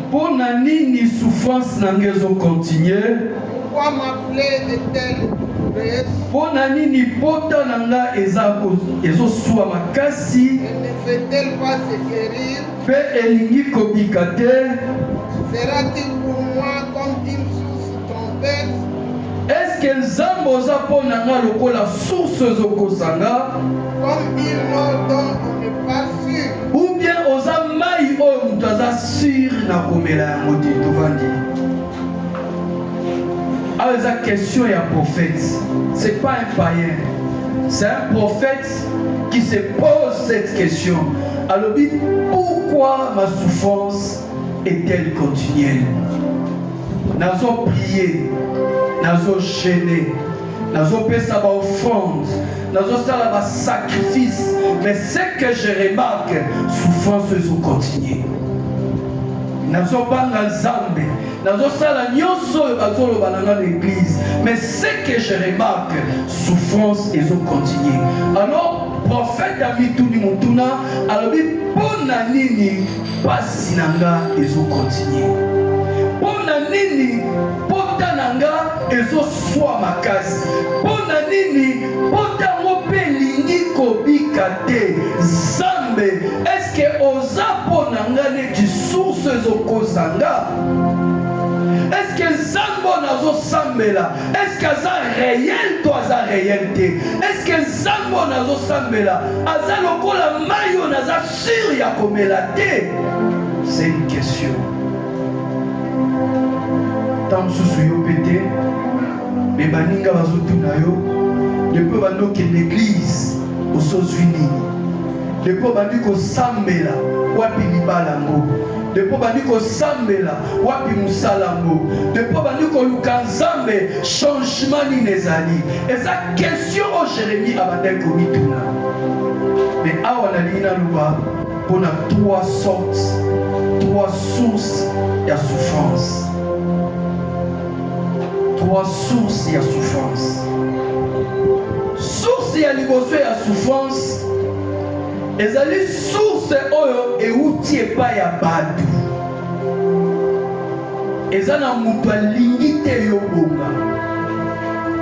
Mpo na nini souffrance na ngai ezo continuer? Mpo na nini pota na ngai eza ezoswa makasi mpe elingi kobika te? Eske Nzambe oza mpo na nga lokola source ezokosa nga ou bien oza mai oyo moto aza sur na komela yango te tovandi awa eza question ya prophète c'est pas un païen c'est un prophète qui se pose cette question alobi pourquoi ma souffrance Ethel continuel nazo prie nazo gene nazopesa baoffrande nazosala basacrifice mais ce que je remarque souffrance ezokontinue nazobanga nzambe nazosala nyonso oyo bazoloba na nga na église mais ce que je remarque souffrance ezokontinue alors prophète amituni motuna alobi mpo na nini Pasi na nga ezo continuer. Pona nini pota na nga ezo swa makasi? Pona nini pota ngo pe lingi kobika te? Zambe, eske oza pona nga neti source ezo kosa nga? nazosambela eske aza reyel to aza reyel te eske nzambe oyo nazosambela aza lokola mai oyo naza Sur ya komela te, c'est une question. Ntango mosusu yo mpe te, me baninga bazotuna yo, depuis obandi okende eglize osozwi nini? Depuis obandi kosambela wapi libala yango? Depuis obandi kosambela wapi mosala yango? Depuis obandi koluka Nzambe, changement nini ezali? Eza question Question oyo Jeremie abandaki komituna, me awa nalingi naloba mpo na trois sortes, trois sources ya souffrance, trois sources ya souffrance. Source ya liboso ya souffrance ezali source oyo euti epai ya bato eza na moto alingi te yo bonga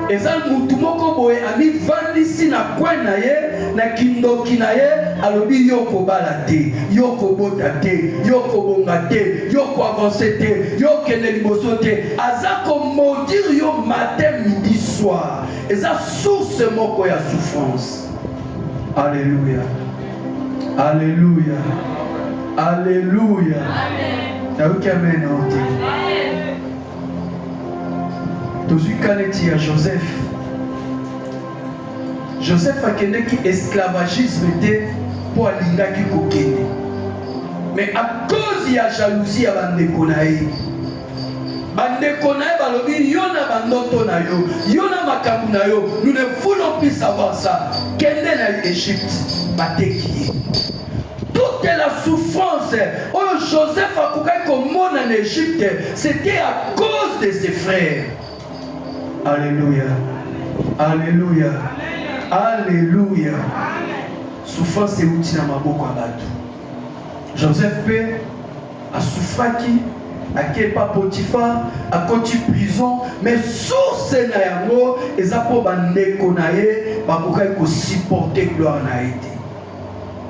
eza moto moko boye amifandisi na kwen na ye na kindoki na ye alobi yo kobala te yo kobota te yo kobonga te yo koavanse te yo kende liboso te aza komodire yo matin midi soir eza source moko ya souffrance Aleluya, aleluya, aleluya. Nayoki amen ote. Tozwi kaneti ya Joseph. Joseph akendeki esclavagisme te mpo alingaki kokende, mais à cause ya jalousie ya bandeko na ye bandeko na ye balobi yo na bandoto na yo yo na makambo na yo nous ne voulons plus savoir ça kende na egypte bateki ye toute la souffrance oyo joseph akokaki komona na egypte c'était à cause de ses frères alléluia alléluia alléluia souffrance euti na maboko ya bato joseph mpe A souffraki, ake epa Potiphar, akoti prison, mais source na yango eza po ba ndeko na ye bakokaki ko supporter gloire na ye te.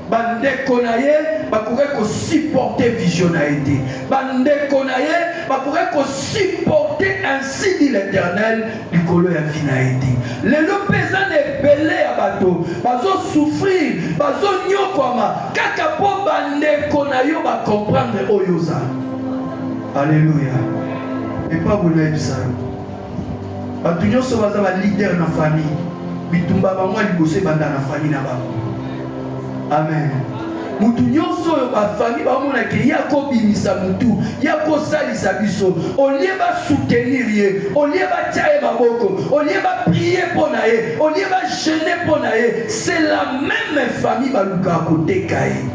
bandeko na ye bakoki kosuporte vision na ye te bandeko na ye bakoki kosuporte ainsi dit l'éternel likolo ya vie na ye te lelo mpe eza na ebele ya bato bazosouffrir bazonyokwama kaka mpo bandeko na yo bacomprendre oyo oza aleluya epa bolayebisa yo bato nyonso baza balider na famille bitumba bango ya liboso ebanda na famille na bango amen motu nyonso oyo bafami bamona ke ye akobimisa motu ye akosalisa biso olie basoutenir ye olie batya ye maboko olie baprie mpo na ye olie bagene mpo na ye c'est la même famille balukaka koteka ye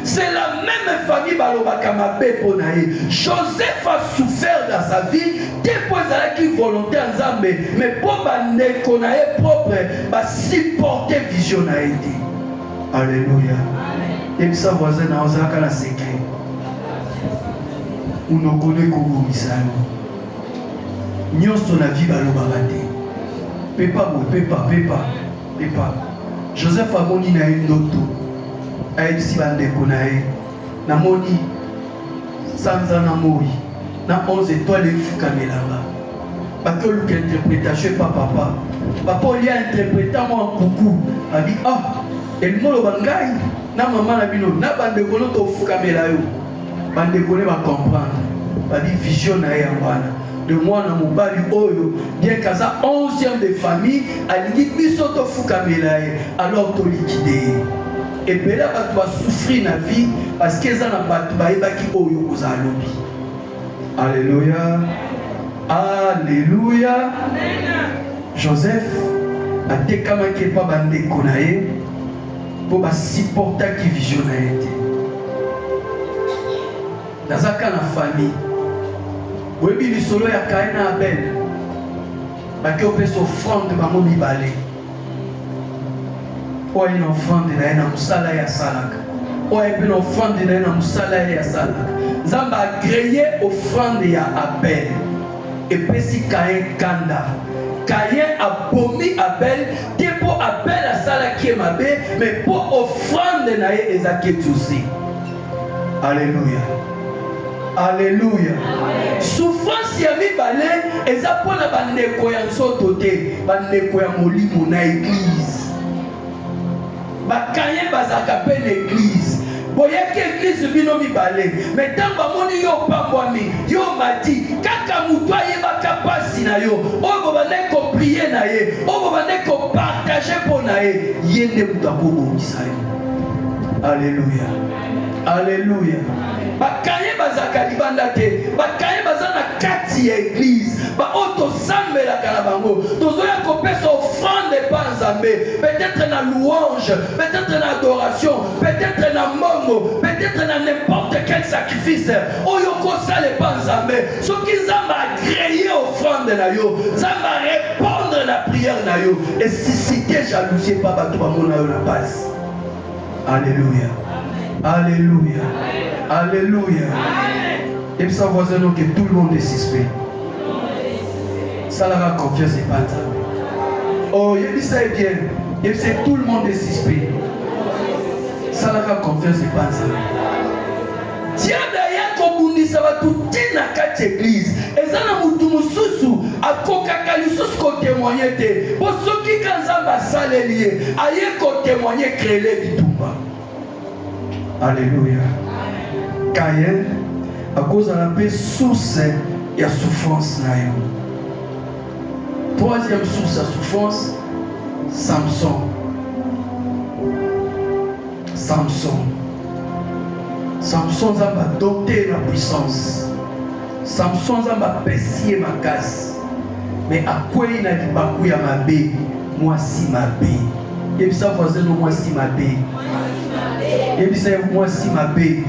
c'est la même famille balobaka mabe mpo na ye joseph a souffert dans sa vie te mpo ezalaki volonté ya nzambe mais mpo bandeko na ye propre ba supporter vision na ye te alleluia yebisa voisin na ozalaka na secret monoko nde ekobongisa yo nyonso na vie balobaka te pepa boye pepa pepa pepa joseph amoni na ye ndoto ayebisi bandeko na ye namoni sanza na moi na 11 etoile efukamelanga bake oluka interpretation epa papa papa olia interpretant mwa nkuku abi ah elingi oloba ngai na mama na bino na bandeko no tofukamela yo bandeko ne bacomprendre babi vision na ye yango wana de mwana mobali oyo bien kaza 11e de famille alingi biso tofukamela ye alors tolikide ye ebele bato basouffrir na vie parce que eza na bato bayebaki oyo kozala lobi Alléluia. Alléluia. Joseph atekamaki epa bandeko na ye mpo basupportaki vision na ye te. Naza ka na famille. Boyebi lisolo ya Kain na Abel. Baki opesa offrande bango mibale. oyo aye na ofrande na ye na mosala ye asalaka oyo aye mpe na ofrande na ye na mosala ye asalaka nzambe agreye ofrande ya abel epesi kaye kanda kaye abomi abel te mpo abel asalaki ye mabe me mpo ofrande na ye eza ketusi Alléluia. Alléluia. Souffrance ya mibale eza mpo na bandeko ya nzoto te, bandeko ya molimo na eglize. Bakaye bazalaka mpe na eglize boyaki eglize bino mibale me ntango bamoni yo opambwami yo omati kaka motu ayebaka mpasi na yo oyo bobandaki koprie na ye oyo bobandaki kopartage mpo na ye ye nde moto akobongisa yo Alléluia. Alléluia. bakaye bazalaka libanda te bakaye baza na kati ya eglize baoyo oh, tosambelaka na bango tozoya kopesa offrande epa nzambe peut-être na louange peut-être na adoration peut-être na mbongo peut-être na n'importe quel sacrifice oyo oh, kosala epa nzambe soki nzambe agreye offrande na yo nzambe arépondre na prière na yo esuscite jalousie mpa bato bamona yo na base alleluya alleluya alleluya yebisa voisin no ke tout le monde est suspect salaka confiance epa nzambe o oh, yebisa ye bien yebisa tout le monde est suspect salaka confiance epa nzambe Diable aya kobundisa bato te na kati eglize. Eza na motu mosusu akokaka lisusu kotemoigne te, mpo soki ka Nzambe asaleli ye aye kotemoigne krele bitumba. Aleluya. Kayen akozala mpe source ya souffrance na yo. Troisième source ya souffrance, Samson. Samson. Samson Nzambe adote na puissance. Samson Nzambe apesi ye makasi. Mais akwei na libaku ya mabe, mwasi mabe. Yebisa voisin no mwasi mabe. Yebisa ye mwasi mabe.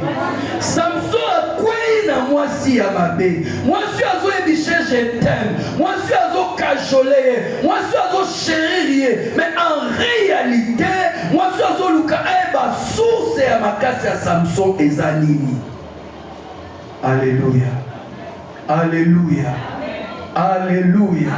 Samson akwei na mwasi ya mabe. Mwasi azoyebishe je t'aime. Mwasi azokajole ye. Mwasi azo cherir ye mais en realite mwasi azoluka ayeba eh, source ya makasi ya samson eza nini alleluya alleluya alleluya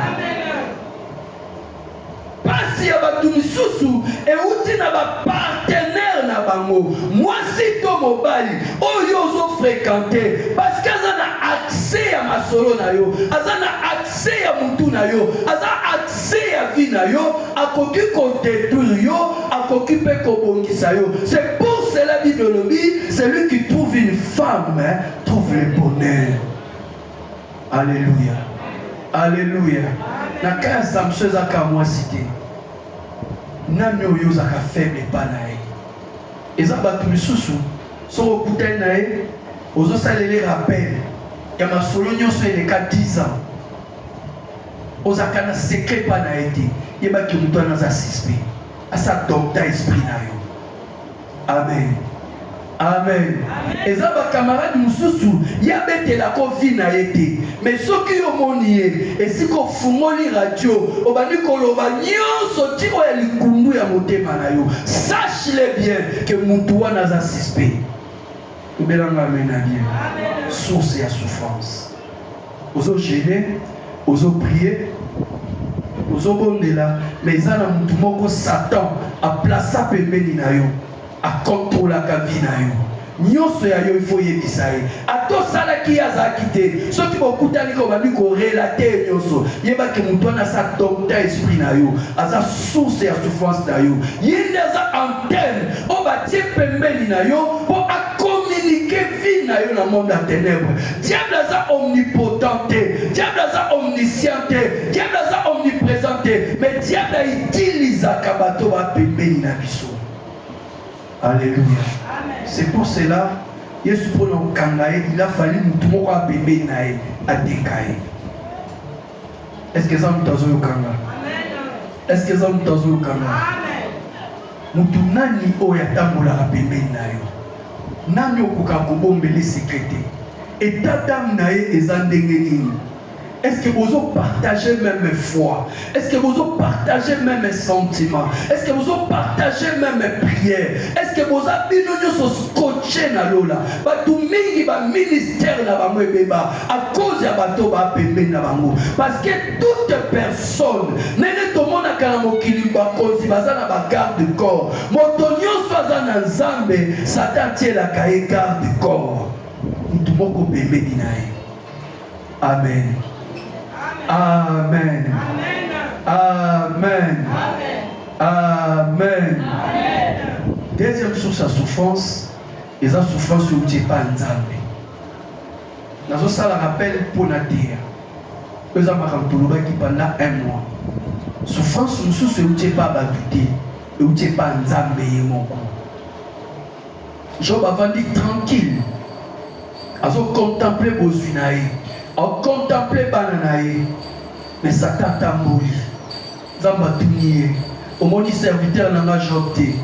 mpasi ya bato misusu euti na bapartenere na bango mwasi to mobali oyo ozofrekante parceke aza na akse ya masolo na yo aza na accès ya mutu na yo aza accès ya vie na yo akoki kodétruire yo akoki mpe kobongisa yo c'est pour cela bible olobi celui qui trouve une femme trouve le bonheur alléluia alléluia na cas ya samson ezaka mwasi te nani oyo ozaka faible epa na ye Eza batu misusu soki okutani na ye ozo salele rappel ya masolo nyonso eleka 10 ans ozalaka na secret pa na ye te yeba ke moto wana aza suspect asa dokta esprit na yo amen amen eza bakamarade mosusu ye abetelaka ovi na ye te me soki yo omoni ye esika ofungoli radio obandi koloba nyonso ti oyo ya likundu ya motema na yo sache S'il est bien que mutu wana aza suspect. Obela nga amen na bien. Source ya souffrance. Ozo gêner, ozo prier, ozo bondela, mais eza na mutu moko Satan a plaça pembeni na yo, a contrôlaka vie na yo. Nionso ya yo il faut yebisa ye. Ata osalaki ye azalaki te. Soki bokutani ko bandi ko relate nionso. Yeba ke moto wana sa docteur esprit na yo. Aza source ya souffrance na yo. Ye nde aza antenne oyo batie pembeni na yo po a communiquer vie na yo na monde ya tenèbre. Diable aza omnipotent te. Diable aza omniscient te. Diable aza omnipresent te. Mais diable a utilisaka bato ba pembeni na biso. Alleluia. C'est pour cela Yesu mpo na kokanga ye il a fallu motu moko ya pembeni na ye ateka ye. Est-ce que eza motu azoyokanga? Est-ce que eza motu azoyokanga? Motu nani oyo atambolaka pembeni na yo? Nani okoka kobombele sekete? Etat d'âme na ye eza ndenge nini? Est-ce que vous partagez même foi Est-ce que vous partagez même sentiment Est-ce que vous partagez même prière Est-ce que vous avez nous scotché na lola Bato mingi ba ministère na bango ebeba à cause ya bato ba pembe na bango parce que toute personne nene tomonaka na mokili bakonzi baza na ba garde corps moto nyonso aza na nzambe satan atielaka ye garde corps moto moko pembeni na ye Amen. Amen. Amen. Amen. Deuxième source ya souffrance eza souffrance oyo uti epai nzambe nazosala rappel mpo na teya oyo eza makambo tolobaki pendant un mois souffrance mosusu euti epai bato te euti epai nzambe ye moko Job avandi tranquille, azo contempler bozwi na ye, au contempler bana na ye, mais Satan atamboli. Nzambe atuni ye, omoni serviteur na nga Job te?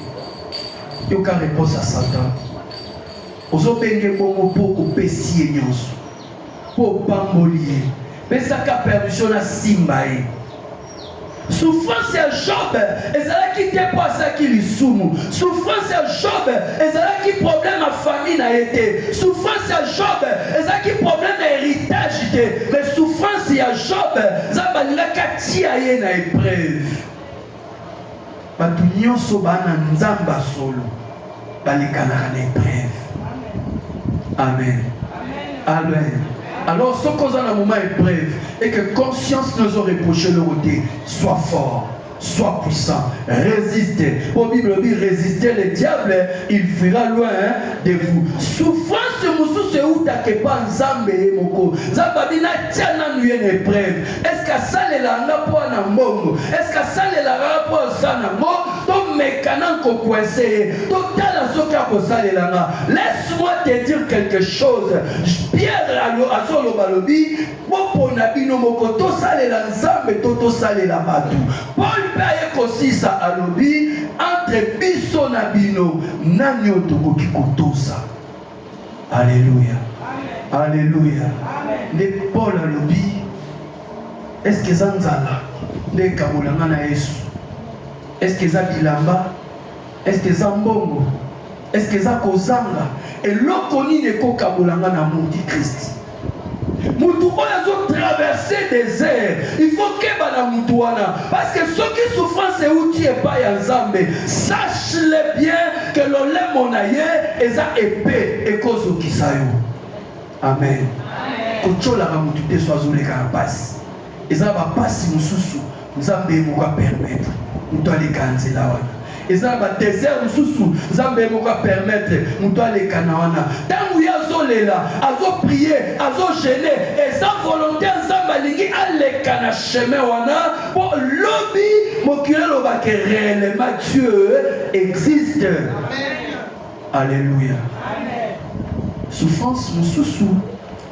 Yoka reponse ya Satan, ozobenge bongo mpo opesi ye nyonso Mpo opamboli ye, pesaka permission nasimba ye. Souffrance ya Job ezalaki te mpo asalaki lisumu. Souffrance ya Job ezalaki problème ya famille na ye te. Souffrance ya Job ezalaki problème ya héritage te, mais souffrance ya Job Nzambe alingaki atia ye na épreuve. Bato nyonso bana Nzambe ya solo balekanaka na epreve. Amen. Amen. Alors, ce qu'on a dans le moment est bref et que conscience nous a reproché le côté, sois fort. sois puissant, résiste. Au Bible dit, résistez le diable, il fuira loin de vous. Souffrance mosusu eutake mpa nzambe ye moko nzambe abi natya nanu ye na epreuve Est-ce que asalela nga mpo ana mbongo? Est-ce que asalela nga mpo aza na ngo? Tomeka na kokwese ye, totala soki akosalela nga. Laisse-moi te dire quelque chose. Pierre alo azoloba lobi, bopona bino moko, tosalela Nzambe to tosalela bato. Paul mpe aye kosisa alobi, entre biso na bino, nani oyo tokoki kotosa? Alléluia. Alléluia. Nde Paul alobi est-ce que eza nzala nde ekabola nga na Yesu? Est-ce que eza bilamba? Est-ce que eza mbongo? Est-ce que eza kozanga? Eloko nini ekokabola nga na amour du Christ? mutu oyo azo traverse desert il faut keba na mutu wana parce que soki souffrance euti epai ya nzambe sache le bien que lolemo na ye eza epe ekozokisa yo amen kotsolaka mutu te so azoleka na mpasi eza na bapasi mosusu nzambe moko apermetre moto aleka nzela wana eza na badesert mosusu nzambe moko apermetre moto aleka na wana ntango ye azolela azoprie azogene eza volonté ya nzambe alingi aleka na chemin wana mpo lobi mokili elobake réellement dieu existe alleluya souffrance mosusu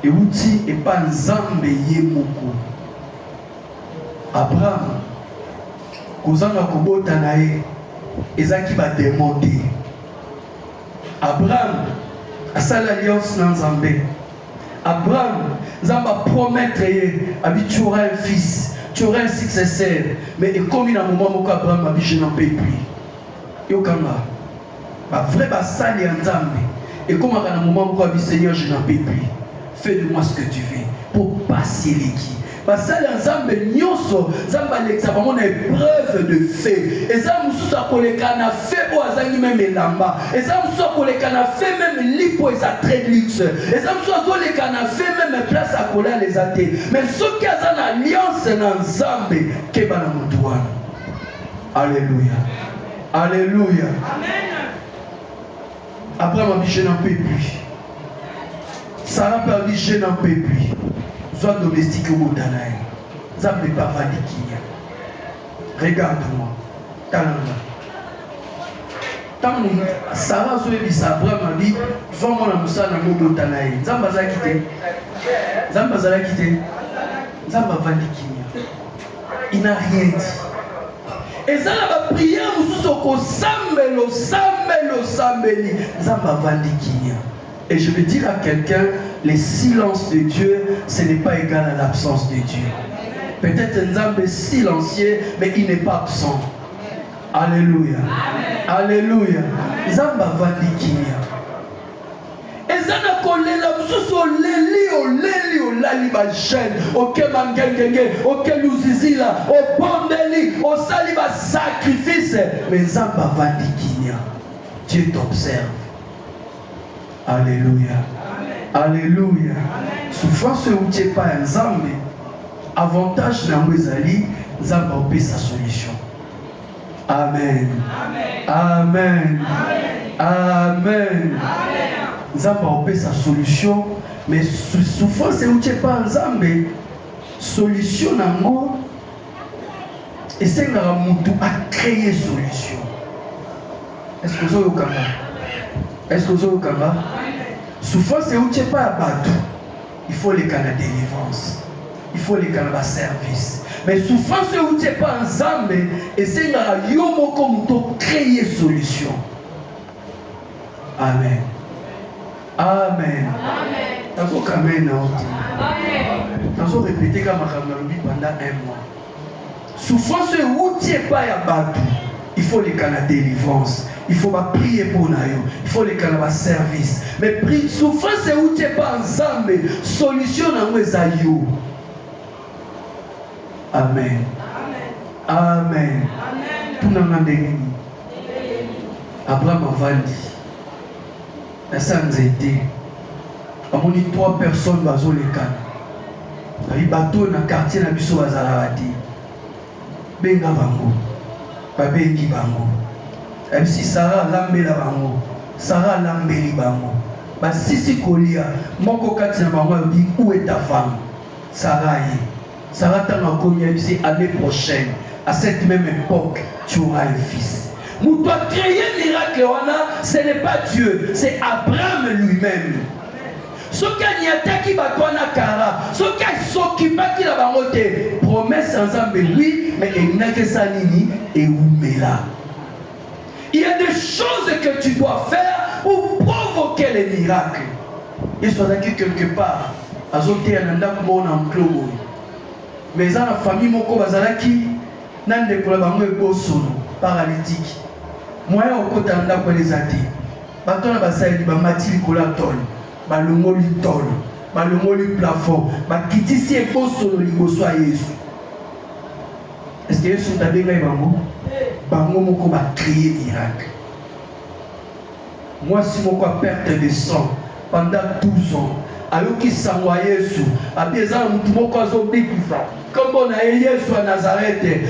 euti epa nzambe ye moko abraham kozanga kobota na ye ezalaki bademo te abraham asali alliance na nzambe abraham nzambe apromettre ye abi tu auras un fils tu auras un successeur mais ekomi na moment moko abraham abi je n'en peux plus yokanga Ba vrai basali ya Nzambe ekomaka na moment moko abi Seigneur je n'en peux plus fais de moi ce que tu veux pour pasi eleki basali ya nzambe nyonso nzambe alekisa bango na epreuve de fe eza mosusu akoleka na fe oyo azangi meme elamba eza mosusu akoleka na fe meme lipo eza très luxe eza mosusu azoleka na fe meme place akolala eza te mais soki aza na alliance na nzambe keba na motu wana alleluya Alléluia. Amen. Abraham a dit je n'en peux plus. Sarah peut a dit je n'en peux plus. Soit domestique au Botanaï. Ça ne peut pas valider. Regarde-moi. Talanga. ntango sara azoyebisa abraham abi zwa mwana mosala na mobota na ye nzambe azalaki te nzambe azalaki te nzambe avandi kimia Il n'a rien dit. eza na bapriere mosusu okosambela osambeli osambeli nzambe avandi kimia et je veux dire à quelqu'un le silence de dieu ce n'est pas égal à l'absence de dieu peut-être nzambe silencieux mais il n'est pas absent alléluia alléluia nzambe avandi kimia eza na kolela mosusu oleli oleli olali bagene oke mangengenge oke luzizila obondeli osali basakrifise me nzambe avandi kimia dieu t'observe alleluya alleluya souffrance euti epai ya nzambe avantage na yango ezali nzambe aopesa solution Amen. Amen. Amen. Amen. Nzambe aopesa solution mais souffrance euti epa nzambe solution nango esengaka motu acreye solution est-ce que ozoyokanga est-ce que ozoyokanga souffrance euti epa ya bato il faut leka na délivrance il faut leka na baservice mais souffrance oyo euti epa nzambe esengaka yo moko moto créer solution amen amen nazokamena oti nazo repete ka makambo nalobi pendant un mois Souffrance oyo ewuti epai ya bato, il faut leka na delivrance, il faut ba prier mpo na yo, il faut leka na ba service. Mais pri souffrance ewuti epai Nzambe, solution na yango eza yo. Amen. Amen. Tuna nga ndenge nini? Abraham avandi na sa nzete bamoni trois personnes bazolekana babi bato oyo na quartier na biso bazalaka te benga bango babengi bango yabisi sara alambela bango sara alambeli bango basisi kolia moko kati na bango alobi uwe ta femme sara ye Sara ntango akomi yebisi année prochaine à cette même époque tu auras un fils moto acreye miracle wana ce n'est pas dieu c'est abraham lui-même soki aniataki bato wana kara soki asokipaki na bango te promese ya nzambe wi me elinaki esa nini ewumela Il y a des choses que tu dois faire pour provoquer les miracles. Yesu azalaki quelque part azoteya na ndako moko na enclos boye, mais eza na famille moko bazalaki na ndeko na bango ebosono paralitiki, moyen okota na ndako wana eza te. Bato wana basaleli bamati likolo ya tolo, balongoli tolo, balongoli plafond, bakitisi ebosono liboso ya Yesu. Est-ce que Yesu tabengaki bango? Bango moko ba créer miracle. Mwasi moko a perte de sang pendant 12 ans ayoki sango ya Yesu abi eza na motu moko azobikisa nkombo na ye Yesu ya Nazarete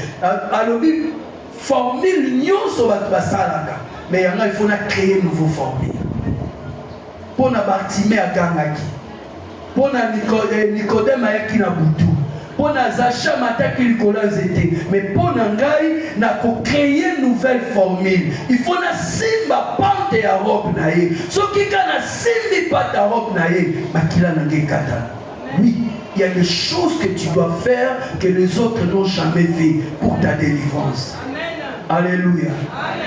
alobi formule nyonso bato basalaka me yanga ifo na créer nouveau formule mpo na bartime agangaki mpo na eh, nikodeme ayaki na butu mpo na zacha mataki likolo ya nzete me mpo na ngai na kocreye nouvelle formule ifo nasimba pante ya robe na ye soki ka nasimbi pate ya robe na ye makila na ngai ekatana oui il y a des choses que tu dois faire que les autres n'ont jamais fait pour ta délivrance Amen. Alléluia.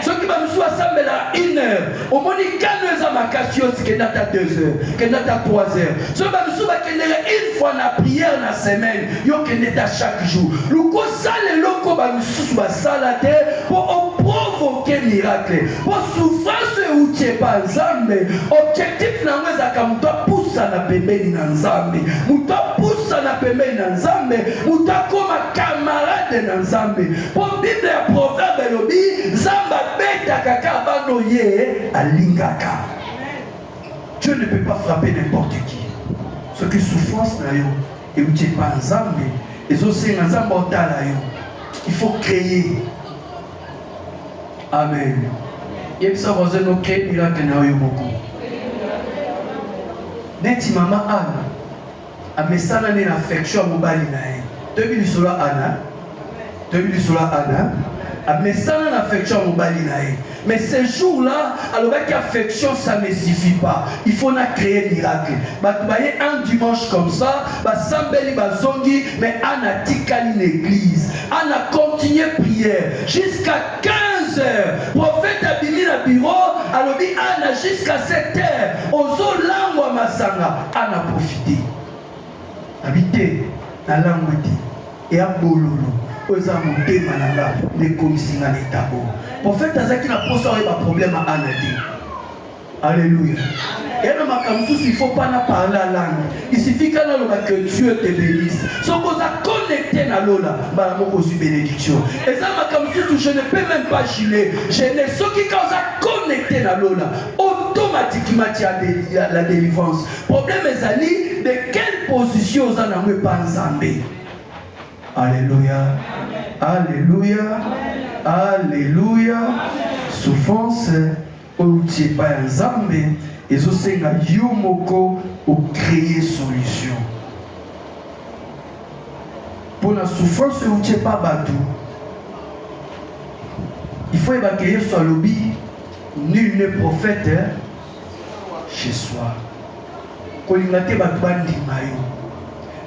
Soki ba musu asambela 1 heure, omoni kano eza makasi yo sikenda ta 2 heures, kenda ta 3 heures. Soki ba musu bakendela une fois na prière na semaine, yo kende ta chaque jour. Luko sala eloko ba mususu basala te po o provoquer miracle. Po souffrance euti epa Nzambe, objectif na yango ezalaka moto apusana pembeni na Nzambe. Moto apusana pembeni na Nzambe, moto akoma camarade na Nzambe. Mpo Bible ya Proverbe elobi Nzambe abetaka kaka bana oye alingaka. Dieu ne peut pas frapper n'importe qui. Soki souffrance na yo euti epa Nzambe ezosenga Nzambe otala yo. Il faut créer. Amen. Yebisa voisin no créer miracle na yo moko. Neti mama Anne Amesana nde na affection ya mobali na ye. Toyebi lisolo ya Ana, toyebi lisolo ya Ana amesana na affection ya mobali na ye mais ce jour là alobaki affection ça ne suffit pas il faut na créer miracle bato baye un dimanche comme ça basambeli bazongi mais ana atikali na église ana continue prière jusqu'à 15 heures prophète abimi na bureau alobi ana jusqu'à 7 heures ozolangwa masanga a na profite na bite na langue te eya bololo oyo eza motema na nga nde ekomisi nga na etabo profete azalaki na mposa oyeba problème ana te alleluya eya na makambo mosusu il faut pas na parle langue il suffit ka naloba que dieu te bénisse soki oza connecté na lola mbala moko ozwi bénédiction eza makambo mosusu je ne peux même pas gile je ne soki ka oza connecté na lola automatiquement tu as de, la, la délivrance problème ezali de quelle position oza nango epa nzambe alleluia alleluia alleluia souffrance outi epa ya nzambe ezosenga yo moko ocreye solution mpo na souffrance outi epa bato il faut yebake yesu alobi Nul n'est prophète hein? chez soi. Kolinga te bato bandima yo.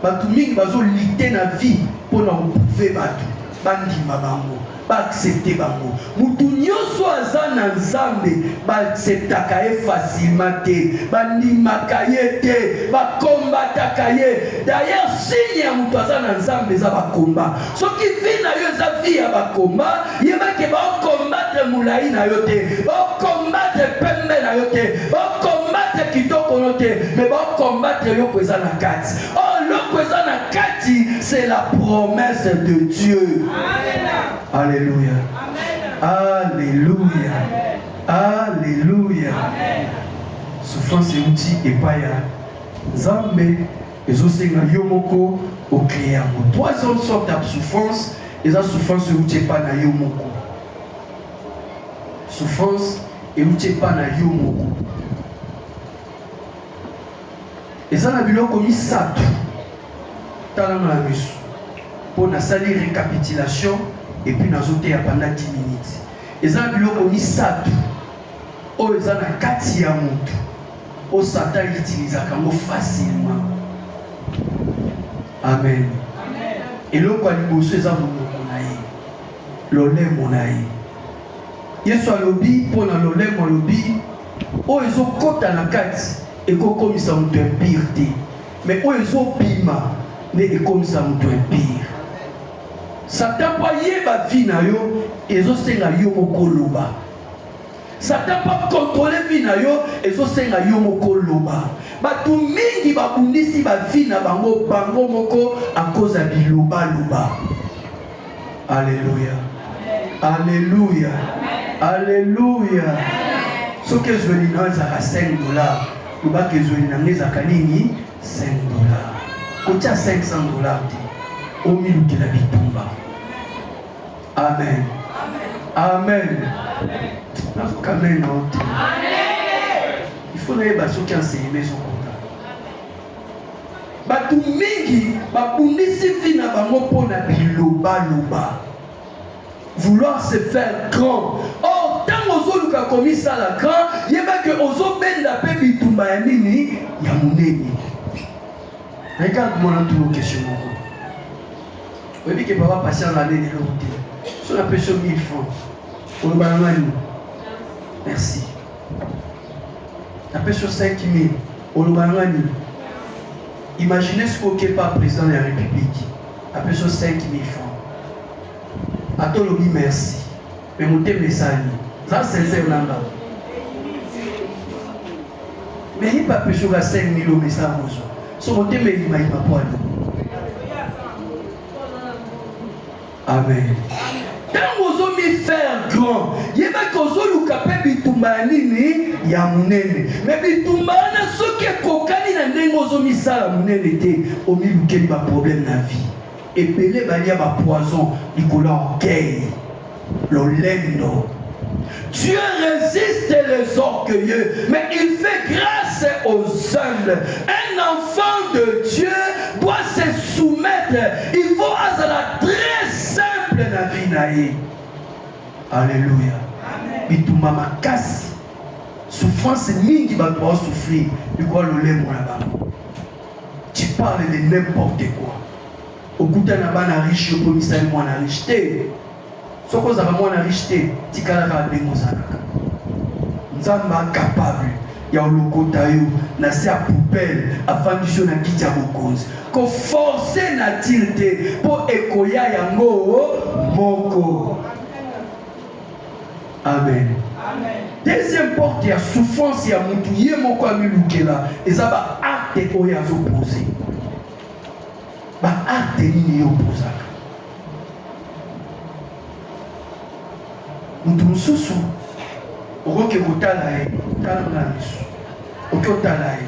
Bato mingi bazolite na vie mpo na koprouve bato bandima bango baaccepte bango. Moto nyonso aza na Nzambe baacceptaka ye facilement te, bandimaka ye te, bakombataka ye. D'ailleurs signe ya moto aza na Nzambe eza bakomba. soki vi na yo eza vi ya bakomba yebake baokombatre molai na yo te baokombatre pembe na yo te baokombatre kitoko no te me baokombatre eloko eza na kati o oh, eloko eza na kati c'est la promesse de dieu alleluya alleluya alleluya souffrance euti epai ya nzambe Ezo senga yo moko o creer yango. Troisième sorte ya souffrance eza souffrance euti epai na yo moko. Souffrance euti epai na yo moko. Eza na biloko misato tala na miso mpo nasali récapitulation et puis nazoteya pendant 10 minutes eza na biloko misato oyo eza na kati ya moto Oyo Satan utilisaka yango facilement. Amen. Eloko ya liboso eza monoko na ye, lolemo na ye. Yesu alobi mpo na lolemo, alobi oyo ezokota na kati ekokomisa moto empire te, me oyo ezobima nde ekomisa moto empire. Satan mpo ayeba vi na yo, ezosenga yo moko loba Satan pa controle vie na yo ezosenga yo moko loba. Bato mingi babundisi ba vie na bango bango moko akoza biloba loba. Alléluia. Alléluia. Alléluia. Soki ezweli na ezaka 5 dollars, lobaka ezweli na ngai ezaka nini 5 dollars. Kotya 500 dollars te. Omilukela bitumba. Amen. Amen. Nazokambe na ote. Il faut nayeba soki enseignement ezokota. Bato mingi babundisi vi na bango mpo na bilobaloba vouloir se faire grand or ntango ozoluka komisala grand yeba ke ozobenda mpe bitumba ya nini ya monene regarde mwana tuna question moko oyebi ke papa patient na nini eloko te so na pesi yo 1000 francs oloba na ngai nini merci na pesi yo 5000 oloba na ngai nini imagine sikoyo kepa président ya république apesi yo 5000 francs ata olobi merci Mais motema esali. Za sincère na nga. Mais il pas plus que 5000 euros mais ça mozo. So motema il m'a il m'a pas Amen. Ntango ozomi faire grand, yebaki ozoluka mpe bitumba ya nini ya monene. Me bitumba wana soki ekokani na ndenge ozomisala monene te, omilukeli baproblème na vie. Ebele balia ba poison likolo ya orgueil, lolendo. Dieu résiste les orgueilleux, mais il fait grâce aux humbles. Un enfant de Dieu doit se soumettre. Il faut azala très simple na vie na ye. Alléluia. Bitumba makasi souffrance mingi bato baosouffrir likolo lolembo na bango Tu parle de n'importe quoi. Okuta na bana riche okomisa ye mwana riche te. Soki ozalaka mwana riche te, tikalaka ndenge ozalaka. Nzambe capable ya olokota yo na se ya poubelle afandisi yo na kiti ya bokonzi. Koforce nature te mpo ekoya yango moko. Amen. Amen. Deuxième porte ya souffrance ya mutu ye moko amilukela eza ba acte oyo azopose ba acte nini yo opozaka mutu mosusu okoki kotala ye tala nga misu oki otala ye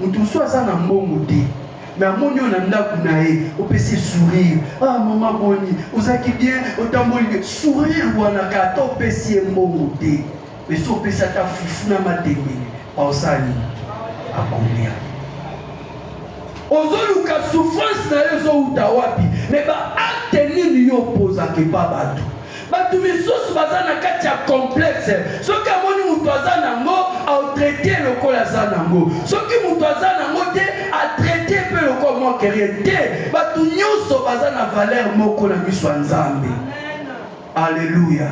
Mutu so aza na mbongo te mais amoni yo na ndako na ye opesi sourire ah mama boni ozaki bien otamboli bien sourire wana ka ata opesi ye mbongo te mais so opesi ata fufu na matembele aosali akolia ozoluka souffrance na yo ezowuta wapi mais baacte nini yo opozaka epa bato Bato misusu baza na kati ya complexe. Soki amoni moto aza nango, aotraite lokola aza nango. Soki moto aza nango te, atraite mpe lokola mwa kerie te. Bato nyonso baza na valeur moko na miso ya Nzambe. Aleluya,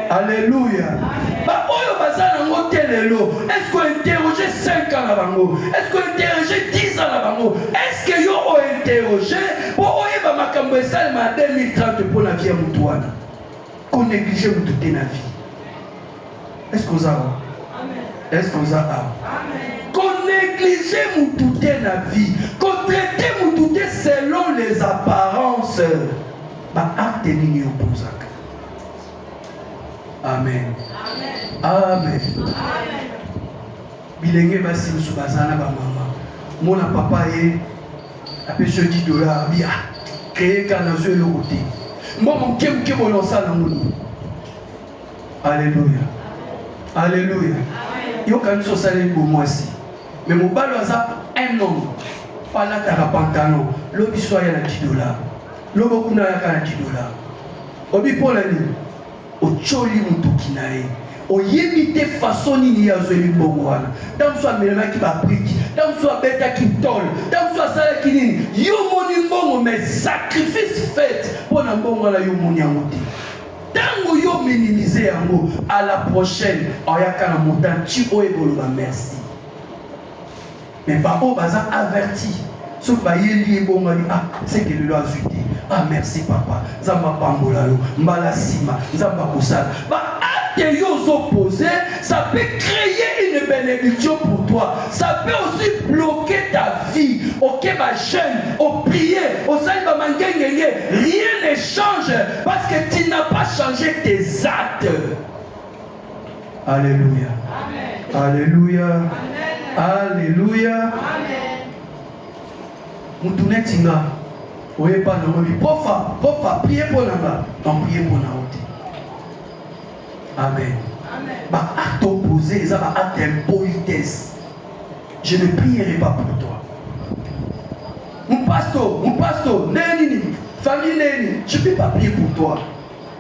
aleluya. Baoyo baza nango te lelo, est-ce que interroger 5 ans na bango? Est-ce que interroger 10 ans na bango? Est-ce que yo o interroger mpo oyeba makambo esalema na 2030 mpo na vie ya motu wana koneglige motu te na vie eske oza awa eske oza awa koneglige motu te na vie kotraite motu te selon les apparences baakte nini opozaka amen amen bilenge basi mosusu baza na bamama mona papa ye apesi yo 10 dollars bia kreye ka nazwi eloko te mwa moke moke boye osala yango nini aleluya aleluya yokanisi osaleli bomwasi me mobali aza un homme palataka pantalon lobi so aya na 10 dollars lobo kuna ayaka na 10 dollars obi mpo na nini Otioli motoki na ye oyebi te façon nini ye azweli mbongo wana ntango mosusu amelanaki babriki ntango mosusu abetaki tole ntango mosusu asalaki nini yo omoni mbongo mais sacrifice faite mpo na mbongo wana yo omoni yango te ntango yo minimize yango à la prochaine oyaka na montant ti oyo ekoloba merci mais ba oyo baza averti soki bayeli ye bongo ali ah seke lelo azwi te ah merci papa nzambe apambola yo mbala nsima nzambe akosala que yo opposé, ça peut créer une bénédiction pour toi. Ça peut aussi bloquer ta vie. Ok, ma chaîne, au prier, au salba rien ne change parce que tu n'as pas changé tes actes. Aleluya, aleluya, aleluya. Mutu neti nga oyeba na moni pofa pofa prie mpo na nga amprie mpo na yo te. Amen. Ba acte opposé eza ba acte impolitesse. Je ne prierai pas pour toi. Mon pasteur, mon pasteur, neni, famille neni, je ne peux pas prier pour toi.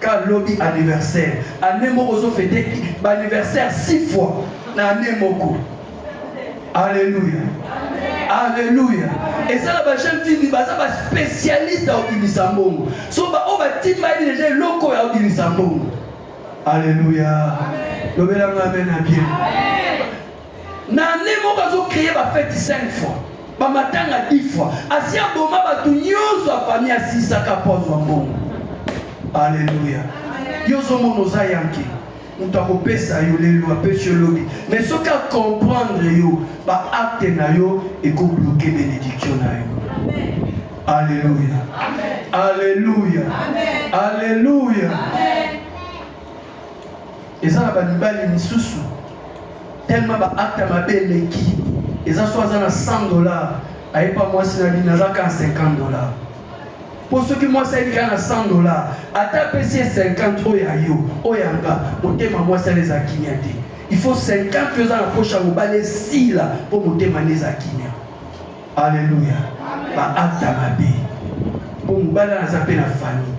ka lobi anniversaire année moko ozo fete ba anniversaire six fois na année moko alleluia alleluia eza na bajeune fille baza baspécialiste ya kobimisa mbongo so baoyo batimbali deja eloko ya kobimisa mbongo alleluia lobelanga amen na bien na année moko azo créer ba fête 5 fois ba matanga 10 fois asi aboma bato nyonso ya famille asisaka mpo azwa mbongo aleluya yo ozomona oza yanke moto akopesa yo lelo apesi yo lobi mais soki acomprendre yo baakte na yo ekobloke benediktio na yo aleluya aleluya aleluya eza na bamibali misusu tellement ba acte mabe eleki eza so aza na 100 dollars ayepa mwasi na bino aza kaka 50 dollars mpo soki mwasi ayeli kaka na 100 dollars ata apesi ye 50 oyo ya yo oyo ya nga motema mwasi ale eza kimia te il faut 50 oyo eza na posha mobali esila mpo motema nde eza kimia alleluya ba acte mabe mpo mobali aza mpe na famille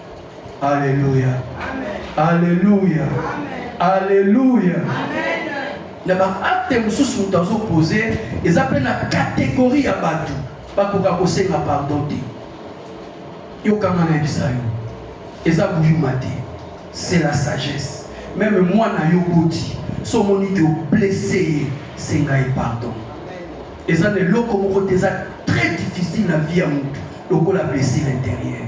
Aleluya, aleluya, aleluya. Na baakte mosusu moto azopose eza mpe na kategori ya bato bakoka kosenga pardon te. Yokanga na yebisa yo, eza buyuma te, c'est la sagesse. Meme mwana yo boti so omoni ke oblesse ye, senga ye pardon. Eza na eloko moko te eza très difficile na vie ya motu lokola blessure intérieure.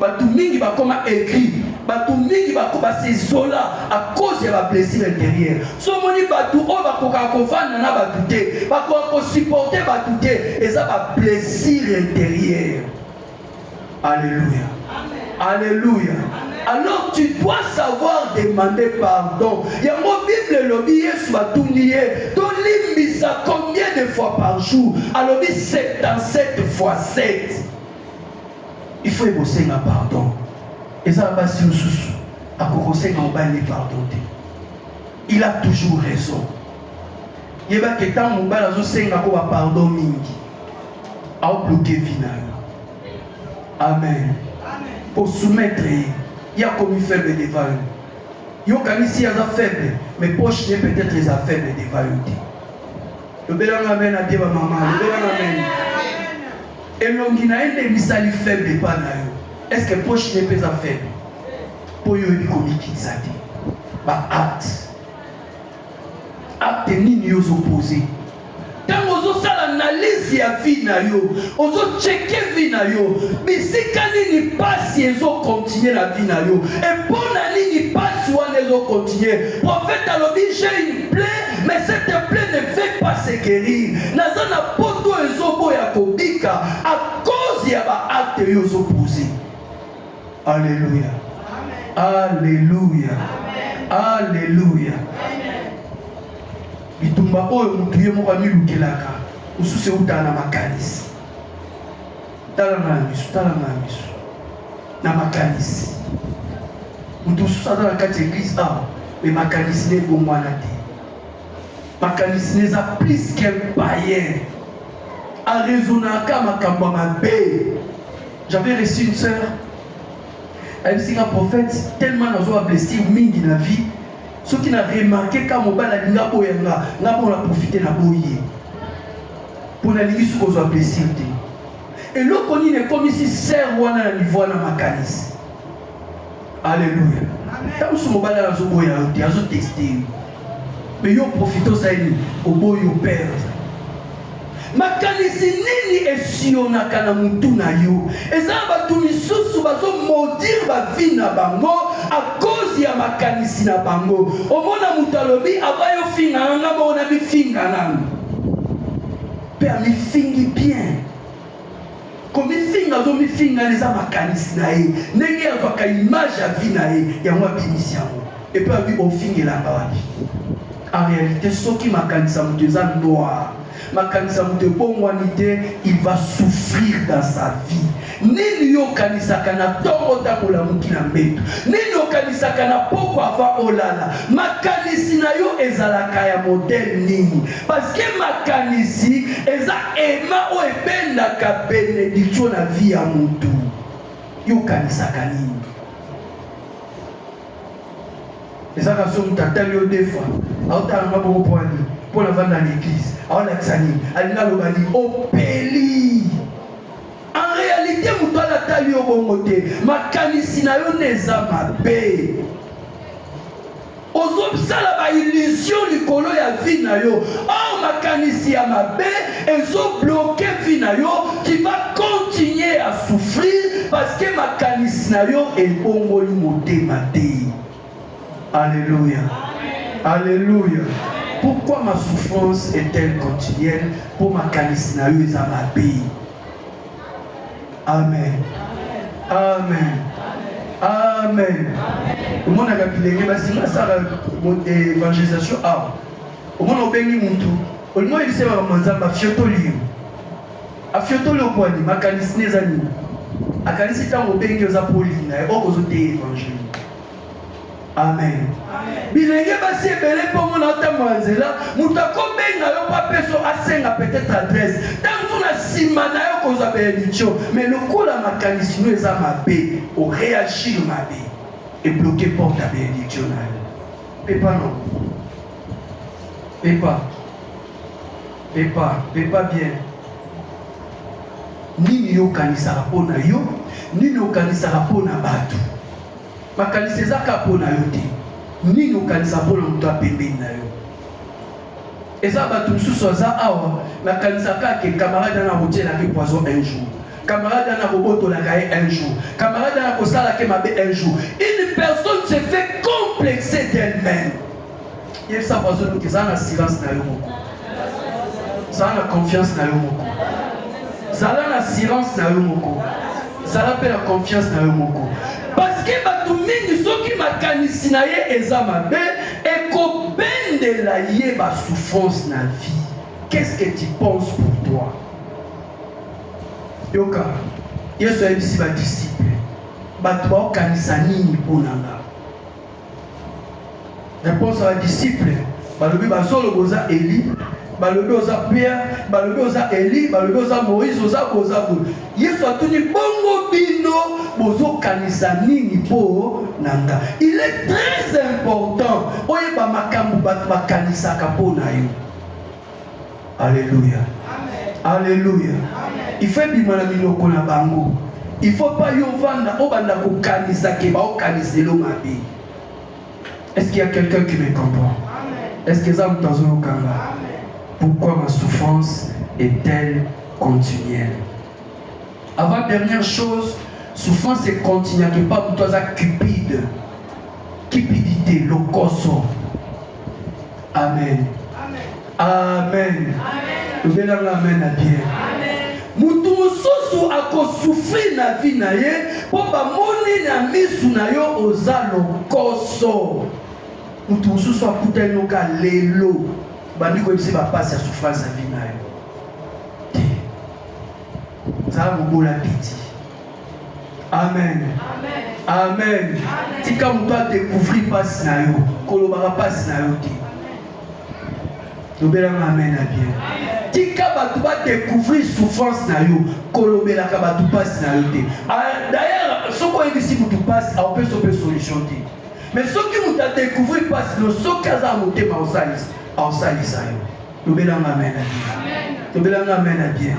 bato mingi bakoma aigri bato mingi basezola a cause ya bablessure intérieure so omoni bato oyo bakokaka kovanda na bato te bakoka kosupporte bato te eza bablessure intérieure alleluya alleluya alors tu dois savoir demander pardon yango bible elobi yesu batuni ye tolimbisa combien de fois par jour alobi 77 fois 7 il faut ekosenga pardon eza na basi mosusu akokosenga mobali ne pardon te il a toujours raison yebaki ntango mobali azosenga ko bapardon mingi aobloke vi na yo amen osoumettre ye ye akomi faible devant yo yokanisi aza faible mais poche ye peut-être eza faible devant yo te Lobela nga amen abie ba mama. Lobela nga amen. Elongi na ye nde misali faible epa na yo. Est-ce que poche ne pesa faible? Po yo oyebi komikitisa te. Ba acte. Acte nini yo ozo poser? ntango ozosala analyse ya vie na yo ozocheke vie na yo bisika nini mpasi ezokontinue na vie na yo epona nini mpasi wana ezokontinue profete alobi je une plaie Mais cette plaie ne fait pas se guérir. Naza na poto ezobo ya kobika à cause ya ba acte yo zo poser. Alléluia. Alléluia. Alléluia. Bitumba oyo mutu ye moko amilukelaka, osusu euta na makanisi. tala nga na miso tala nga na miso na makanisi moto mosusu aza na kati ya eglise awa me makanisi na ebongwana te makanisi na eza plus qu'un payen arezonaka makambo ya mabe j'avais reçu une sœur ayebisi nga prophète tellement nazwa blessure mingi na vie soki na remarke ka mobali alinga boya nga nga mpo na profite na boye Mpo nalingi soki ozwa plaisir te. Eloko nini ekomisi sœur wana na niveau wana makanisi? Alléluia. Ntango mosusu mobali wana azoboya yo te, azoteste yo. Me yo profite ozali oboyi opere. Makanisi nini esionaka na motu na yo? Eza na bato misusu bazomodire bavi na bango akozi ya makanisi na bango. Omona moto alobi ava yo finga nanga moko na bifinga nanga mpe amifingi bien komifinga azomifinga eza makanisi na ye ndenge azwaka image ya vie na ye yango abimisi yango epe abi ofingelanga wapi en réalité soki makanisi ya moto eza noir makanisi ya moto ebongwani te il va souffrir dans sa vie Nini yo okanisaka na ntongo ntango olamuki na mbeto? Nini okanisaka na poko ava olala? Makanisi na yo ezalaka ya modele nini? Paske makanisi eza ema oyo ebendaka benediktio na vi ya motu. Yo okanisaka nini? ezaka so moto atali yo defa aotala nga boko pwani mpo navanda na eglize aolakisa nini alinga aloba ni opeli En realite moto wana atali yo bongo te, makanisi na yo nde eza mabe. Ozosala ba illusion likolo ya vie na yo, or makanisi ya mabe ezobloke vie na yo, tu vas continuer à souffrir parce que makanisi na yo ebongoli motema te. Alléluia. Alléluia. Pourquoi ma souffrance est-elle quotidienne Pour ma calice na yo eza mabe. Amen. Amen. Amen. Omonaka bilenge basi basala évangélisation awa. Omona obengi mutu olingo yebisa yo makambo nzambe afiotoli yo afiotoli yo kwani makanisi ne eza nini akanisi ntango obengi oza mpo olinga ye okozoteye évangile amen bilenge basi ebele mpo mona otambola nzela moto akobenga yo mpo apeso asenga peut-être adresse ntango na nsima na yo kozwa benediktio mais lokola makanisi no eza mabe oreagir mabe ebloke porte ya benediktio na yo pepa no pepa pepa pepa bien nini yo okanisaka mpo na yo nini okanisaka mpo na bato makanisi eza kaka mpo na yo te nini okanisa mpo na moto apembeni na yo eza bato mosusu aza awa nakanisa kaka camarade ana akotyelaki poison un jour camarade ana akobotolaka ye un jour camarade ana akosalaki mabe un jour une personne se fait complexer d'elle-même yebisa voisin oyo eza na silence na yo moko zala na confiance na yo moko zala na silence na yo moko zala mpe na confiance na yo moko parceke bato mingi soki makanisi na ye eza mabe ekobendela ye basouffrance na vie qu'est-ce que tu penses pour toi yoka yesu ayebisi badisiple bato baokanisa nini mpo na nga Réponse à la disciple. Balobi bazolo boza Eli, balobi oza Pierre, balobi oza Eli, balobi oza Moïse, oza boza bo. Yesu atuni bongo bino bozokanisa nini mpo na nga. Il est très important oyeba makambo bato bakanisaka mpo na yo. Alléluia. Alléluia. Il faut ebima na minoko na bango. Il faut pas yo vanda obanda kokanisa ke baokanisa elo mabe. Est-ce qu'il y a quelqu'un qui me comprend? Est-ce que eza moto azoyokanga? Pourquoi ma souffrance est-elle continuelle? Avant dernière chose, souffrance est continuelle, pas moto aza cupide, cupidité, lokoso. Amen. Amen. Lobelanga amen na bien. Moto mosusu akosufri na vi na ye mpo bamoni na misu na yo oza lokoso. Moto mosusu akutani noka lelo bandi koyebisa bapasi ya souffrance ya vi na yo. Zala mobola piti. Amen. Amen. Amen. Amen. Tika moto a découvrir pasi na yo. Kolobaka pasi na yo te. Lobelanga amen na bien. Tika bato ba découvrir souffrance na yo. Kolobelaka bato pasi na yo te. Ah, d'ailleurs, soki oyebisi moto pasi, aopesa mpe solution te. Mais soki moto a découvrir pasi no, soki aza motema osalisa, aosalisa yo. lobela nga amen na bien lobela nga amen na bien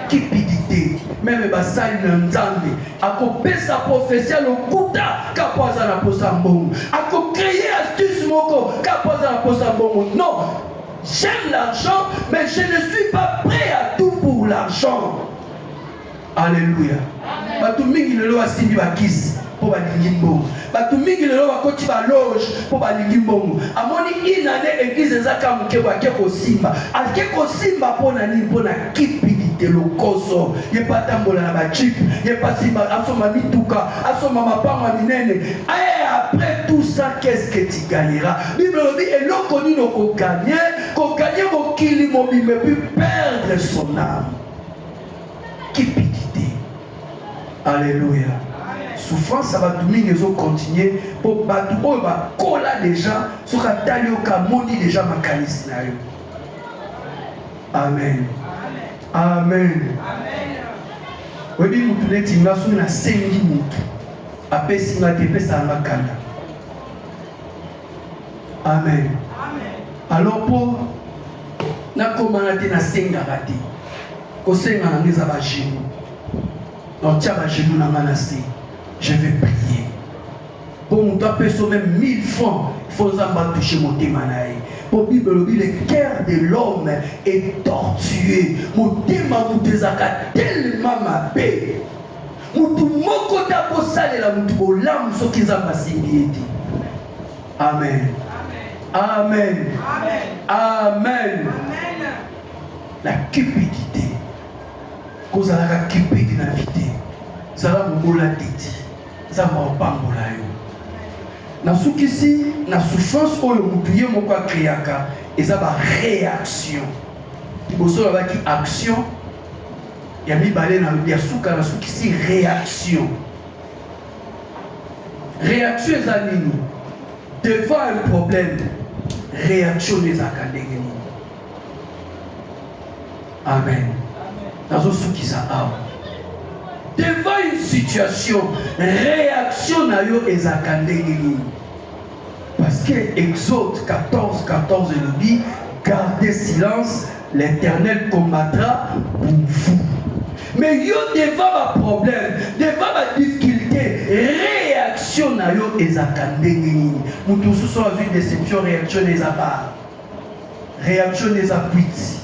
kipidite meme basali na nzambe akopesa profesi ya lokuta kapo aza na posa mbongo akokreye astuce moko kapo aza na posa mbongo non j'aime l'argent mais je ne suis pas prêt à tout pour l'argent Aleluya. Bato mingi lelo basimbi bakisi mpo balingi mbongo. Bato mingi lelo bakoti baloge mpo balingi mbongo. Amoni inane eglize eza ka moke bo ake kosimba. Ake kosimba mpo na nini? Mpo na kipidite lokoso. Ye mpe atambola na bachipe, ye mpe asimba, asomba mituka, asomba mapango ya minene. Aye après tout ça, qu'est-ce que tu gagneras? Bible elobi eloko nini okoganye? Koganye mokili mobimba epuis perdre son âme. Kipikite. Alléluia. Souffrance ya bato mingi ezo continuer mpo bato oyo bakola deja soki atali yo kamoni deja makanisi na yo. Amen. Amen. Oyebi motu neti nga soki nasengi motu apesi nga te epesaka nga kanda Amen. Amen. Alors mpo nakomana te nasengaka te kosenga na ngai eza bagenu naotya bagenu na ngai na se je vais prier mpo moto apesa meme 1000 francs fo nzambe atushe motema na ye mpo bible elobi le cœur de l'homme est tortueux motema moto ezalaka telema mabe Moto moko te akosalela moto bolamu soki Nzambe asimbi ye te. Amen. Amen. Amen. La cupidité. kozalaka cupide na vie te zala mobola teti nzambe apambola yo nasukisi na souffrance oyo motu ye moko akreaka eza baréaction liboso babaki action ya mibale na ya suka na sukisi réaction réaction eza nini devant un problème réaction ezalaka ndenge nini amen nazosukisa awa devant une situation réaction na yo ezalaka ndenge nini Parce que Exode 14, 14 elobi, gardez silence, l'Éternel combattra pour vous. Mais yo devant ba problème, devant ba difficulté, réaction na yo ezaka ndenge nini? Mutu mosusu azwi déception, réaction eza ba réaction eza kwiti.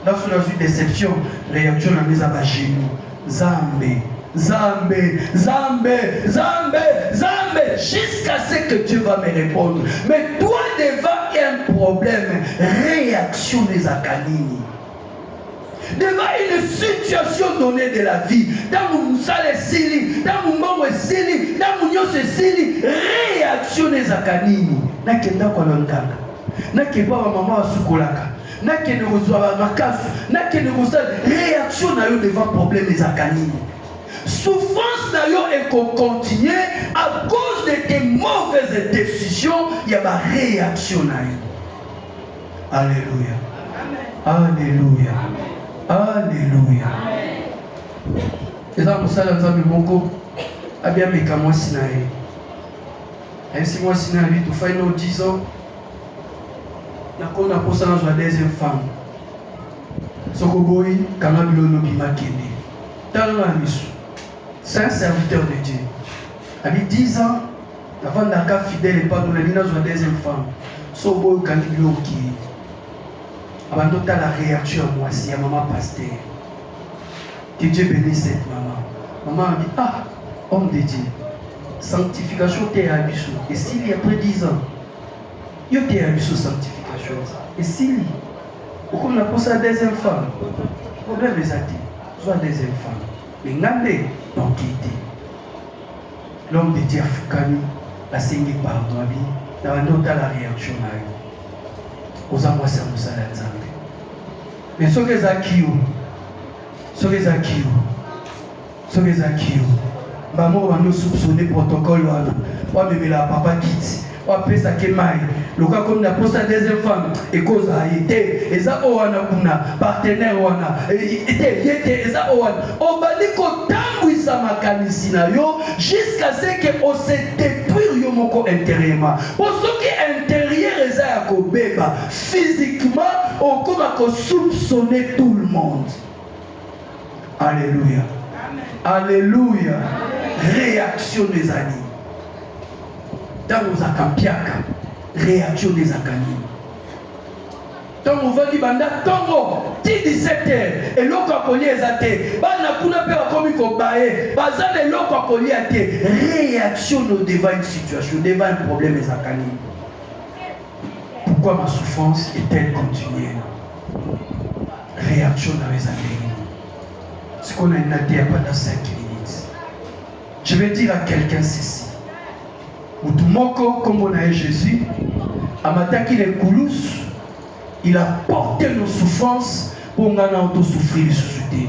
Nga soki nazwi deception, reaction na nga eza ba genoux. Nzambe, Nzambe, Nzambe, Nzambe, Nzambe, jusqu'à ce que Dieu va me répondre. Mais toi devant un problème, réaction ezalaka nini? devant une situation donnée de la vie ntango mosala esili ntango mbongo esili ntango nyonso esili réaction ezalaka nini nake ndako ya nganga nake epa bamama basukolaka nakende kozwa ba makasi nakende kosala réaction na yo devant problème ezalaka nini souffrance na yo ekokontinue à cause de tes mauvaises décisions ya ba réaction na yo alleluia alleluia alleluia eza mosala nzambe moko abiameka mwasi na ye ayebisi mwasi na ye bitofai no 10 ans nakomi na posa nazwa deuxième femme soko boyi kanga bilolo obima kende tala na misu saint serviteur de dieu abi 10 ans navandaka fidèle epango na bino azwa deuxième femme so boyi okangi biloko okei abandi otala réaction ya mwasi ya mama paster que dieu bénisse cette mama mama abi ah homme de dieu sanctification te ya biso esili après 10 ans Yo te ya biso sanctification esili. Okomi na posa ya deuxième femme. Problème eza te. Zwa deuxième femme. Mais nga nde banki te. L'homme de Dieu afukami asengi pardon abi na bandi otala réaction na yo. Oza mwasi ya mosala ya Nzambe. Mais soki eza kiyo, soki eza kiyo, soki eza kio bango babandi osupsone protocole wana wamemela papa kiti wapesa ke mai loka komi na posa deuxième femme ekozala ye te eza oyo wana kuna partenaire wana e, e, e, te ye te eza oyo wana obandi kotambwisa makanisi na yo jusqu'à ce que ose détruire yo moko intérieurement po soki intérieur eza ya kobeba physiquement okoma kosoupsone tout le monde Alléluia. Alléluia. Réaction des années. ntango ozalaka mpiaka réaction nde ezalaka nini ntango ovandi banda ntongo ti 17 heure eloko ya kolia eza te bana kuna mpe bakomi kobaye baza na eloko ya kolia te réaction no devant une situation devant un problème ezalaka nini pourquoi ma souffrance est-elle continuelle reaction na yo eza ndenge nini sikoyo na nina teya panda 5 minutes je vais dire à quelqu'un ceci motu moko nkombo na ye jésus amataki na ekulusu il a porte nos souffrances mpo ngai na yo tosouffrir lisusu te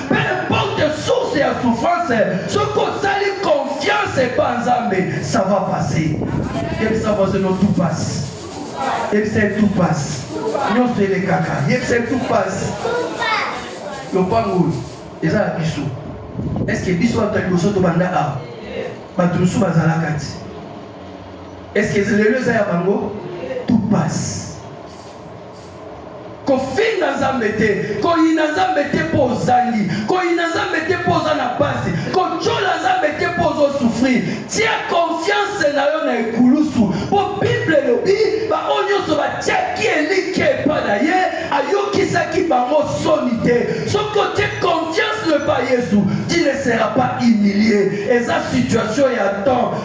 Peu importe source ya souffrance, soki osali confiance epa Nzambe, ça va passer. Yebisa voisin no tout passe. Yebisa ye tout passe. Nyonso elekaka. Yebisa ye tout passe. Lopango oyo eza ya biso. Est-ce que biso bato ya liboso tobanda awa? Bato mosusu bazalaka ti. Est-ce que lelo eza ya bango? Tout passe. kofinga nzambe te koyina nzambe te mpo ozangi koyina nzambe te mpo oza na mpasi kotyola nzambe te mpo ozosufrir tia konfianse na yo na ekulusu mpo bible elobi baoyo nyonso batyaki elikya epai na ye ayokisaki bango soni te soki otye konfianse no epai yesu ti ne sera pas humilie eza situation ya temps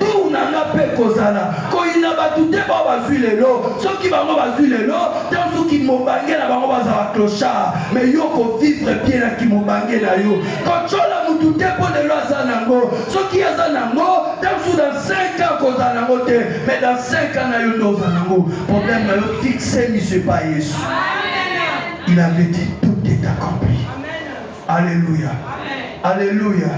Tour na nga mpe kozala koyina bato te bao bazwi lelo soki bango bazwi lelo tanso kimobange na bango bazala clochard me yo kovivre bien na kimobange na yo kotyola motu te mpo lelo aza nango soki aza nango tanso dans 5 ans kozala nango te mais dans 5 ans na yo nde oza nango problème na yo fixe mise pa yesu il avait dit tout est accompli Alléluia. Alléluia.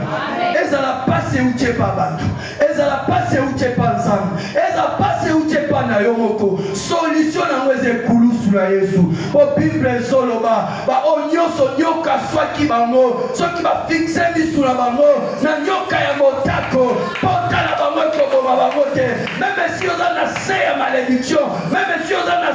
Ezala pasi euti epa bato, ezala pasi euti epa Nzambe, ezala pasi euti epa na yo moko, solution na yango eza ekulusu na Yesu. Po Bible ezoloba baoyo nyonso nyoka aswaki bango, soki bafixe misu na bango na nyoka ya motako, pota na bango ekoboma bango te. Meme si oza na se ya malediction, meme si oza na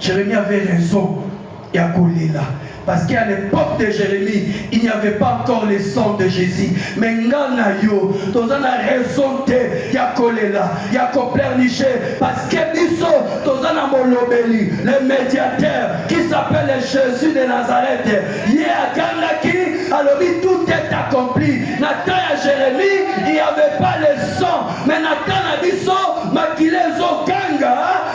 Jeremie avait raison ya kolela parce qu'à l'époque de Jérémie il n'y avait pas encore le sang de Jésus mais nga na yo toza na raison te ya kolela ya koplerniche parce que biso toza na molobeli le médiateur qui s'appelle Jésus de Nazareth ye agangaki alobi tout est accompli na temps ya Jérémie il n'y avait pas le sang mais na temps na biso makila ezoganga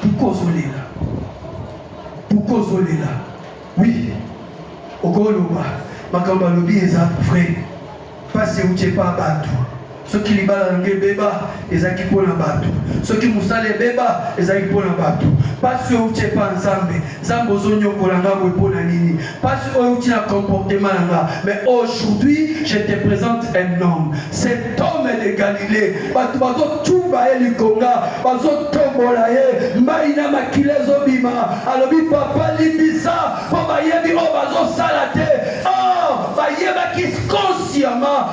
Pourquoi ozolela? Pourquoi ozolela? Oui, okoloba makambo alobi eza vrai. Pasi euti epa bato soki libala na ngai ebeba ezalaki mpo na bato soki mosala ebeba ezalaki mpo na bato mpasi outi epa nzambe Nzambe ozonyokola nga boye mpo na nini mpasi oyo euti na comportement na nga mais aujourd'hui je te présente un homme cet homme de galilée bato bazotumba ye likonga bazotombola ye mbai na makila ezobima alobi papa limbisa mpo bayebi oyo bazosala te or oh, bayebaki consciemment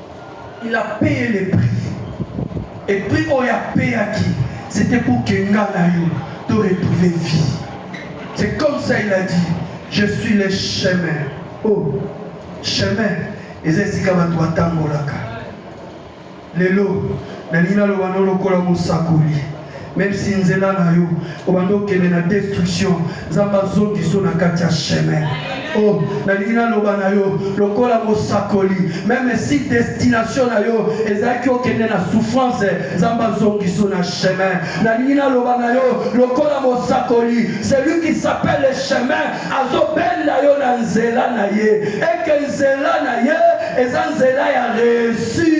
Il a payé le prix. Et prix oyo ya payaki, c'était pour que nga na yo to retrouver vie. C'est comme ça il a dit, je suis le chemin. Oh, chemin eza esika bato batangolaka. Lelo nalingi naloba no lokola mosakoli. Merci nzela na yo obanda okende na destruction nzambe azongiso na kati ya chemin o oh, nalingi naloba na yo lokola mosakoli meme si destination na yo ezalaki okende na souffrance nzambe azongiso na chemin nalingi naloba na yo lokola mosakoli celui qui s'appelle le chemin azobenda yo na nzela na ye eke nzela na ye eza nzela ya reussi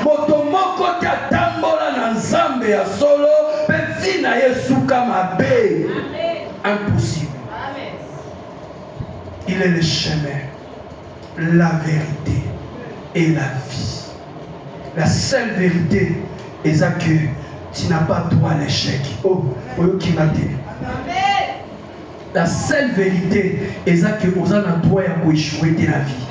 Moto moko te atambola na Nzambe ya solo mpe vi na ye esuka mabe. Impossible. Il est le chemin, la vérité et la vie. La seule vérité est que tu n'as pas droit à l'échec. Oh, oyoki mabe. Amen. La seule vérité eza que oza na droit ya ko échouer te na vie.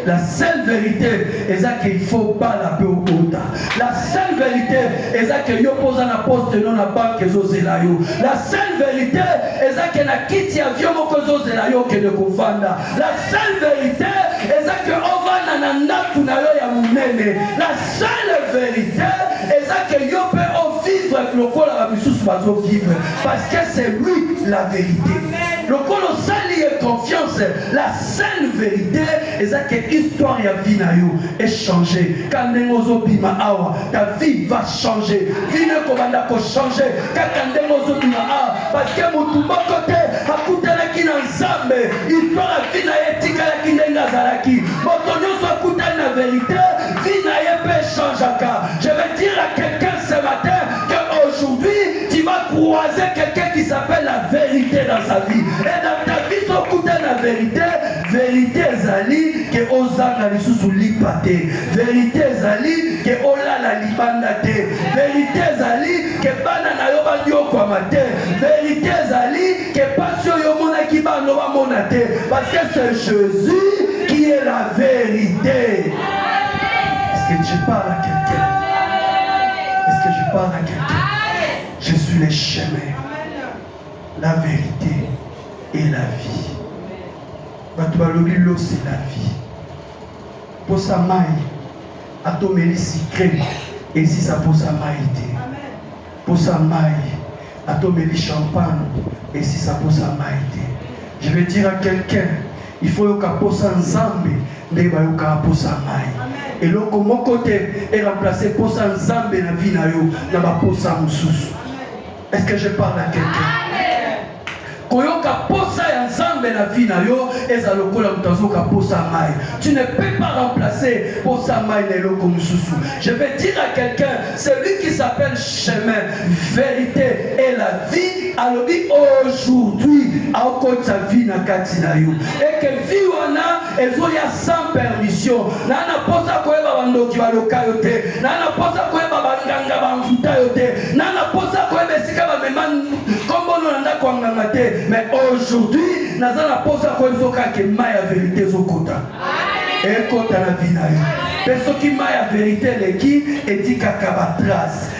La seule vérité eza que il faut bala pe obota. La seule vérité eza que yo poza na poste non na banque ezo zela yo. La seule vérité eza que na kiti ya vieux moko ezo zela yo que de kovanda. La seule vérité eza que ovanda na ndaku na yo ya munene. La seule vérité eza que yo pe o vivre lokola ba misusu bazo vivre. Parce que c'est lui la vérité. Lokola osali ye confiance, la seule vérité eza que histoire ya vie na yo e changer. Ka ndenge ozobima awa, ta vie va changer. Vie na ekobanda ko changer kaka ndenge ozobima awa parce que motu moko te akutanaki na Nzambe. Histoire ya vie na ye etikalaki ndenge azalaki. Moto nyonso akutani na verite, vie na ye mpe echangeaka. Je vais dire à quelqu'un ce matin qu'aujourd'hui tu vas croiser quelqu'un qui s'appelle la vérité dans sa vie. Et dans ta vie, sokuta la vérité, vérité ezali ke ozanga lisusu lipa te. Vérité ezali ke olala libanda te. Vérité ezali ke bana na yo banyokwama te. Vérité ezali ke pasi oyo omonaki bano bamona te. Parce que c'est Jésus qui est la vérité. Est-ce que tu parles à quelqu'un? Est-ce que je parle à quelqu'un? Je suis le chemin, la vérité et la vie. bato balobi losi la vie mposa mai atomeli sikre ezisa mposa mai te Posa mayi ata omeli champagne esisa posa mayi te. Je vais dire à quelqu'un il faut yoka posa Nzambe nde bayoka posa mayi. Eloko moko te e remplacer posa Nzambe na vie na yo na ba posa mosusu. Est-ce que je parle à quelqu'un? Koyoka posa ya Nzambe na vie na yo eza lokola moto azoka posa mai. Tu ne peux pas remplacer posa mai na eloko mosusu. Je vais dire à quelqu'un, celui qui s'appelle chemin, vérité et la vie alobi aujourd'hui akotisa vie na kati na yo et que vie wana ezoya sans permission naa na posa koyeba bandoki baloka yo te naa na posa koyeba banganga bamfuta yo te naa na posa koyeba esika bamema kombono na ndako ya nganga te mais aujourd'hui naza na posa koyebi soki ake mai ya verite ezokota ekota na vi na yo mpe soki mai ya verite eleki etikaka batrace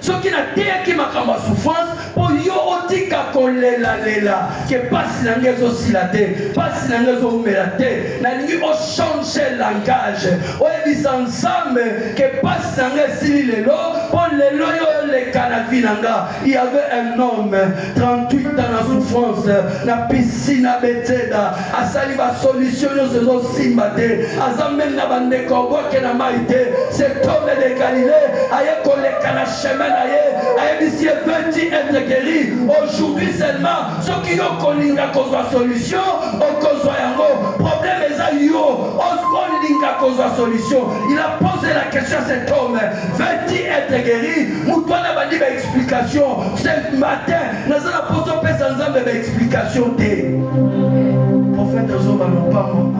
soki nateyaki makambo ya souffrance mpo yo otika kolelalela ke mpasi na ngai ezosila te mpasi na ngai ezoumela te nalingi ochange langage oyebisa nzambe ke mpasi na ngai esili lelo mpo lelo yo oleka na vi na nga il y avait un homme 38 ans na souffrance na piscine ya betseda asali ba solution nyonso ezosimba te aza meme na bandeko abwake na mai te septome de galile aye koleka na chemin na ye ayebisi ye veti etre gueri aujourd'hui seulement soki yo kolinga kozwa solution okozwa yango problème eza yo olinga kozwa solution il a posé la question à cet homme veti etre gueri moto wana bandi ba explication ce matin naza na poso opesa nzambe ba explication te profete azoba lopambo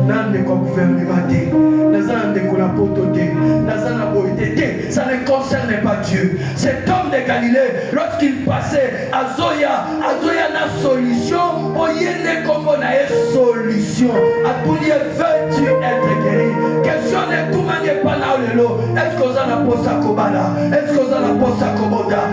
na ndeko ya guvernema te naza na ndeko na poto te naza na boye te te ça ne concerne pas dieu cet homme de galilée lorsqu'il passait azoya azoya na solution mpo ye nde nkombo na ye solution atuni ye veux-tu être guéri question netumani epa nao lelo est ce que oza na mposa kobala est ce que oza na mposa kobota